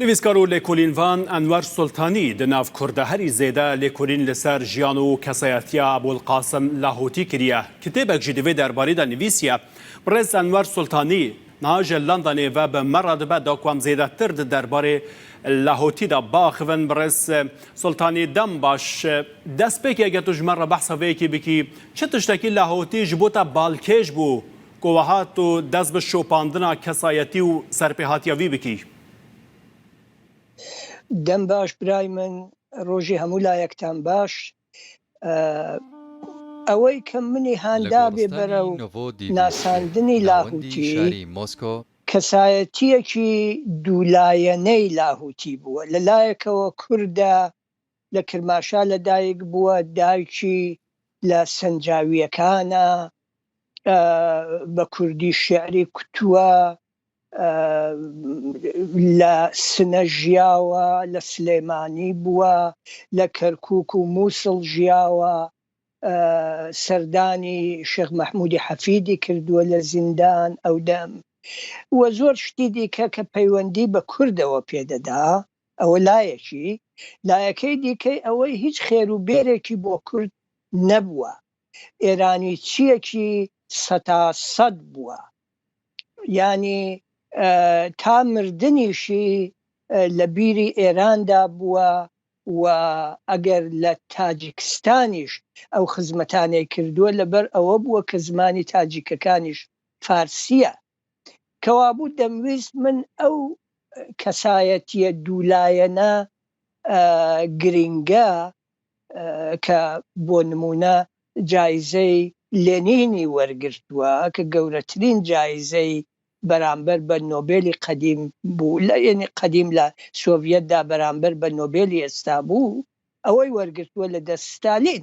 نویسکار و لێکولین ڤان ئەنوەر سولتانی دە ناڤ کوردە هەری زێدە لێکولین لە سەر ژیان و کەسایەتیە ئەبولقاسم لاهوتی کریە، کتێبەک ژی دڤێ دەربارەی دا نویسیە بڕێز ئەنوەر سولتانی، نها ژە لەندەنێ ڤە بە مە رە دبە دا کوام زێدە تر دە دەربارەی لاهوتی دا باخڤن بڕێز سولتانی دەم باش دەس پێکی ئەگەر تو ژمە رە بەحسە ڤەیەکی بکی چ تشتەکی لاهوتی ژبوتە بالکێش بوو کوەها تۆ دەست بە شۆپاندنا کەسایەتی و سەرپێهاتیاڤی بکی؟ دەم باش برای من ڕۆژی هەموو لایەکتان باش ئەوەی کە منی هاندابێ بەرەو ناساندنی لاهوتی کەسایەتیەکی دوو لایەنەی لاهوتی بووە لە لایەکەوە کوردە لە کرماشان لە دایک بووە دایکی لە سەنجاویەکانە بە کوردی شعری کوتوە لە سنە ژیاوە لە سلێمانی بووە لە کەرکوک و موسڵ ژیاوە سەردانی شێخ مەحمودی حەفیدی کردووە لە زیندان ئەو دەم وە زۆر شتی دیکە کە پەیوەندی بە کوردەوە پێدەدا. ئەوە لایەکی، لایەکەی دیکەی ئەوەی هیچ خێر و بێرێکی بۆ کورد نەبووە، ئێرانیچییەکی سەتا سەد بووە، یانی تا مردنیشی لە بیری ئێراندا بووە و ئەگەر لە تاجیکستانیش ئەو خزمەتانەی کردووە لەبەر ئەوە بووە کە زمانی تاجیکەکانیش فارسییە. کەوابوو دەمویست من ئەو کەسایەتیە دوولایەنە گرنگە کە بۆ نمونە جایزەی لێنینی وەرگرتووە کە گەورەترین جایزەی بەرامبەر بە نۆبێلی قەدیم بوو لە یەنی قەدیم لە سۆڤیەتدا بەرامبەر بە نۆبێلی ئێستا بوو ئەوەی وەرگرتووە لە دەست ستالین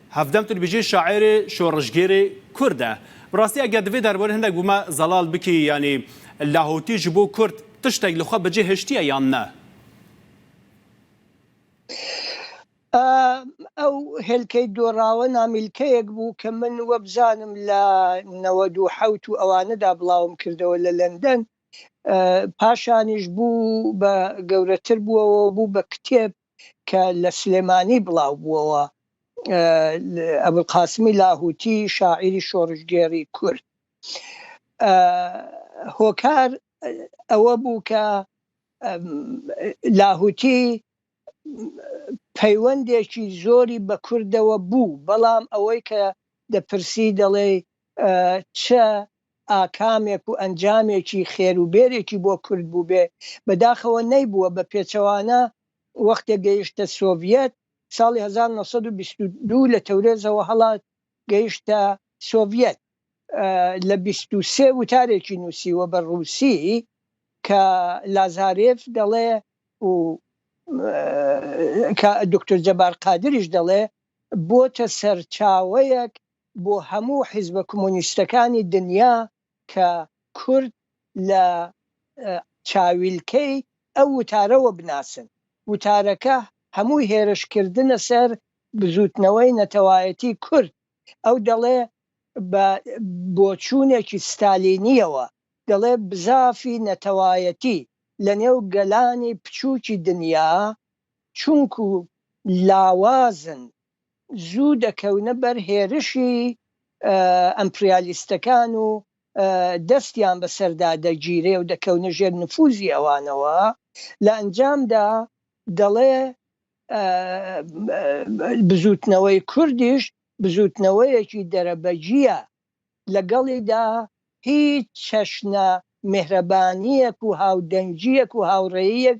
هەڤدەم تر بژی شاعێرێ شۆڕشگێرێ کوردە. بڕاستی ئەگەر دڤێ دەربارەی هەندەک ومە زەڵاڵ بکی یانی لاهوتی ژ بۆ کورد تشتەک لە خۆ بەجێ هێشتیە یان نە؟ ئا ئەو هێلکەی دۆڕاوە نامیلکەیەک بوو کە من وەبزانم لە نەوەد و حەوت و ئەوانەدا بڵاوم کردەوە لە لەندەن. پاشانیش بوو بە گەورەتر بووەوە بوو بە کتێب. کە لە سلێمانی بڵاو بووەوە، ئەبولقاسمی لاهووتی شاعیری شۆڕشگێڕی کورد. هۆکار ئەوە بوو کە لاهووتی پەیوەندێکی زۆری بە کوردەوە بوو، بەڵام ئەوەی کە دەپرسی دەڵێی چ ئاکامێک و ئەنجامێکی خێر و بێرێکی بۆ کورد بووبێ، بەداخەوە نەیبووە، بە پێچەوانە وەختێ گەیشتە سۆڤیەت، ساڵی هەزار و نۆ سەد و بیست و دوو لە تەورێزەوە هەڵات گەیشتە سۆڤیەت، لە بیست و سێ وتارێکی نووسیوە بە ڕووسی کە لازارێف دەڵێ و کە دوکتور جەبار قادریش دەڵێ بۆتە سەرچاوەیەک بۆ هەموو حیزبە کمۆنیستەکانی دنیا کە کورد لە چاویلکەی ئەو وتارەوە بناسن. وتارەکە هەمووی هێرشکردنە سەر بزووتنەوەی نەتەوایەتی کورد. ئەو دەڵێ بە بۆچوونێکی ستالینییەوە، دەڵێ بزافی نەتەوایەتی لە نێو گەلانی پچووکی دنیا چونکوو لاوازن، زوو دەکەونە بەر هێرشی ئەمپریالیستەکان و دەستیان بەسەردا دەگیرێ و دەکەونە ژێر نفوزی ئەوانەوە، لە ئەنجامدا دەڵێ بزووتنەوەی کوردیش بزووتنەوەیەکی دەرەبەگییە، لەگەڵیدا هیچ چەشنە میهرەبانییەک و هاودەنگییەک و هاوڕێییەک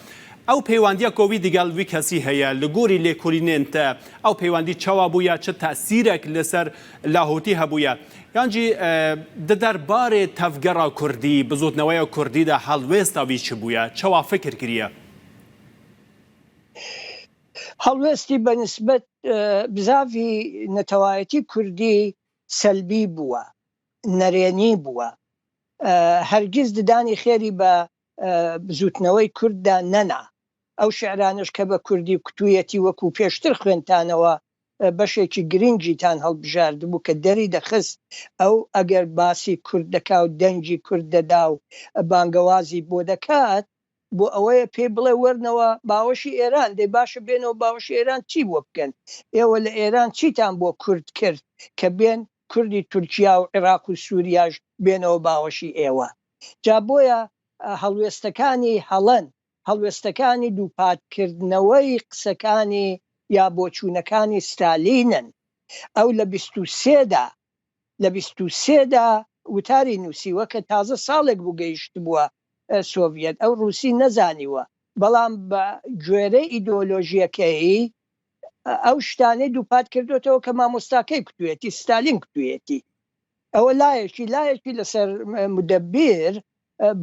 ئەو پەیواندیە کۆوی دگەل وی کەسی هەیە لە گۆری لێکولینێن تە ئەو پەیواندی چەوا بویە چ تاسیرەک لە سەر لاهوتی هەبویە یانجی دە دەر بارێ تەڤگەرا کوردی بزوتنەوەێ کوردی دە هەڵوێستا وی چ بویە چەوا فکر کریە؟ هەڵوێستی بە نسبەت بزاڤی نەتەوایەتی کوردی سەلبی بوە نەرێنی بوە هەرگیز ددانی خێری بە بزووتنەوەی کورددا نەنا. ئەو شیعرانەش کە بە کوردی کوتوویەتی وەکوو پێشتر خوێندتانەوە بەشێکی گرینگیتان هەڵبژاردبوو کە دەری دەخست ئەو ئەگەر باسی کورد دەکا و دەنگی کورد دەدا و بانگەوازی بۆ دەکات بۆ ئەوەیە پێی بڵێ وەرنەوە باوەشی ئێران، دەی باشە بێنەوە باوەشی ئێران چی بۆ بکەن؟ ئێوە لە ئێران چیتان بۆ کورد کرد کە بێن کوردی تورکیا و عیراق و سوریاش بێنەوە باوەشی ئێوە جا بۆیە هەڵوێستەکانی هەڵەن هەڵوێستەکانی دووپات کردنەوەی قسەکانی یا بۆچوونەکانی ستالینن ئەو لە بیست و سێ دا لە بیست و سێ دا وتاری نووسیوە کە تازە ساڵێک بوو گەیشتبووە سۆڤیەت ئەو ڕووسی نەزانیوە بەڵام بە گوێرەی ئیدۆلۆژیەکەیی ئەو شتانەی دووپات کردوێتەوە کە مامۆستاکەی کوتوێتی ستالین کوتوێتی ئەوە لایەکی لایەکی لەسەر مدەبیر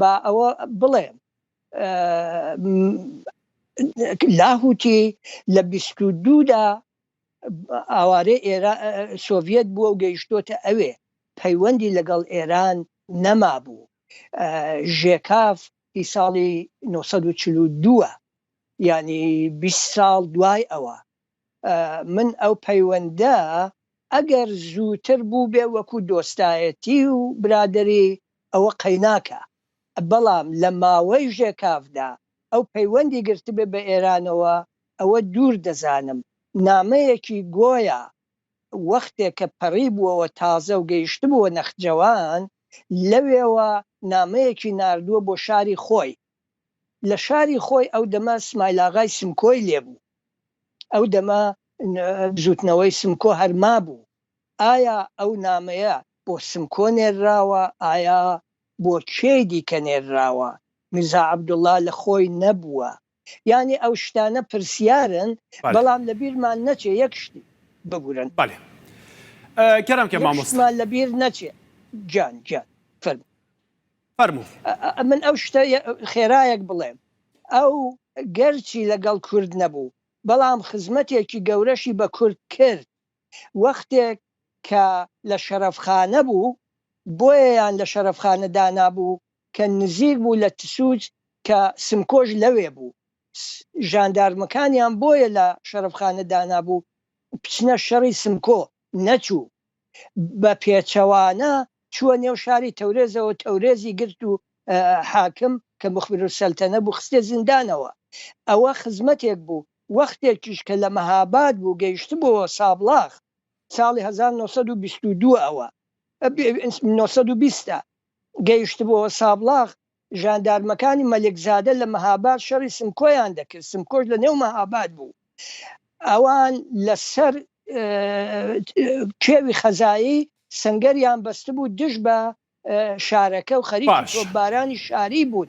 با ئەوە بڵێم لاهوتی لە بیست و دوودا ئاوارێ ئێرا سۆڤەت بووە و گەیشتۆتە ئەوێ پەیوەندی لەگەڵ ئێران نەما بوو ژێکاف هی ساڵی نۆ سەد و چل و دوو ە یانی بیست ساڵ دوای ئەوە من ئەو پەیوەندە ئەگەر زووتر بووبێ وەکو دۆستایەتی و برادەری ئەوە قەیناکە بەڵام لە ماوەی ژێکافدا ئەو پەیوەندی گرتبێ بە ئێرانەوە ئەوە دوور دەزانم نامەیەکی گۆیا وەختێ کە پەڕیبووەوە تازە و گەیشتبووە نەخجەوان لەوێوە نامەیەکی ناردووە بۆ شاری خۆی. لە شاری خۆی ئەو دەمە سمایلاغای سمکۆی لێ بوو. ئەو دەمە بزووتنەوەی سمکۆ هەر مابوو. ئایا ئەو نامەیە بۆ سمکۆ نێرراوە؟ ئایا بۆ کێی دیکە نێرراوە؟ میرزا عەبدوڵڵا لە خۆی نەبووە. یانی ئەو شتانە پرسیارن بەڵێ. بەڵام لە بیرمان نەچێ یەک شت ببورن. بەڵێ کەرم کە یەک مامۆستا. شتمان لە بیر نەچێ گیان گیان فەرموو. فەرموو. ئە من ئەو شتە یە خێرایەک بڵێم ئەو گەرچی لە گەڵ کورد نەبوو بەڵام خزمەتێکی گەورەشی بە کورد کرد وەختێک کە لە شەرەفخانە بوو بۆیەیان لە شەرەفخانە دانابوو کە نزیک بوو لە تسوج کە سمکۆش لەوێ بوو ژاندارمەکانیان بۆیە لە شەرەفخانە دانابوو بچنە شەڕی سمکۆ نەچوو بە پێچەوانە چووە نێو شاری تەورێزەوە تەورێزی گرت و حاکم کە مخبرالسەلتەنە بوو خستیە زیندانەوە ئەوە خزمەتێک بوو وەختێکیش کە لە مەهاباد بوو گەیشتبۆوە سابڵاخ ساڵی هەزار و نۆ سەد و بیست و دوو ەوە نۆ سەد و بیست گەیشتبووە سابڵاغ، ژاندارمەکانی مەلکزادە لە مەهاباد شەڕی سمکۆیان دەکرد، سمکۆش لە نێو مەهاباد بوو، ئەوان لە سەر کێوی خەزایی سەنگەریان بەستبوو دژ بە شارەکە و خەریکی تۆپبارانی شاری بوون.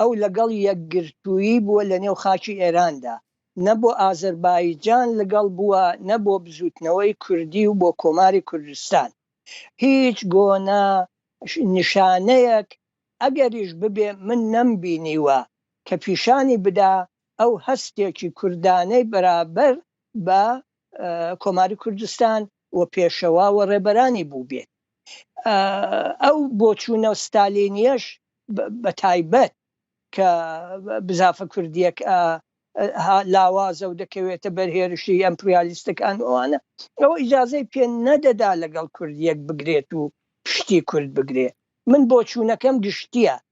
ئەو لەگەڵ یەکگرتوویی بووە لەنێو خاکی ئێراندا، نە بۆ ئازەربایجان لگەڵ بووە، نە بۆ بزووتنەوەی کوردی و بۆ کۆماری کوردستان. هیچ گۆنە نیشانەیەک ئەگەریش ببێ من نەمبینیوە کە پیشانی بدا ئەو هەستێکی کوردانەی بەرابەر بە کۆماری کوردستان و پێشەوا و ڕێبەرانی بووبێت. ئەو بۆچوونە ستالینییەش بە تایبەت کە بزافە کوردییەک ها لاوازە و دەکەوێتە بەر هێرشی ئەمپریالیستەکان و ئەوانە، ئەوە ئیجازەی پێ نەدەدا لەگەڵ کوردییەک بگرێت و پشتی کورد بگرێ. من بۆچوونەکەم گشتییە.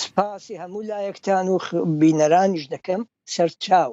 سپاسی هەموو لایەکتان و بینەرانیش دەکەم سەرچاو.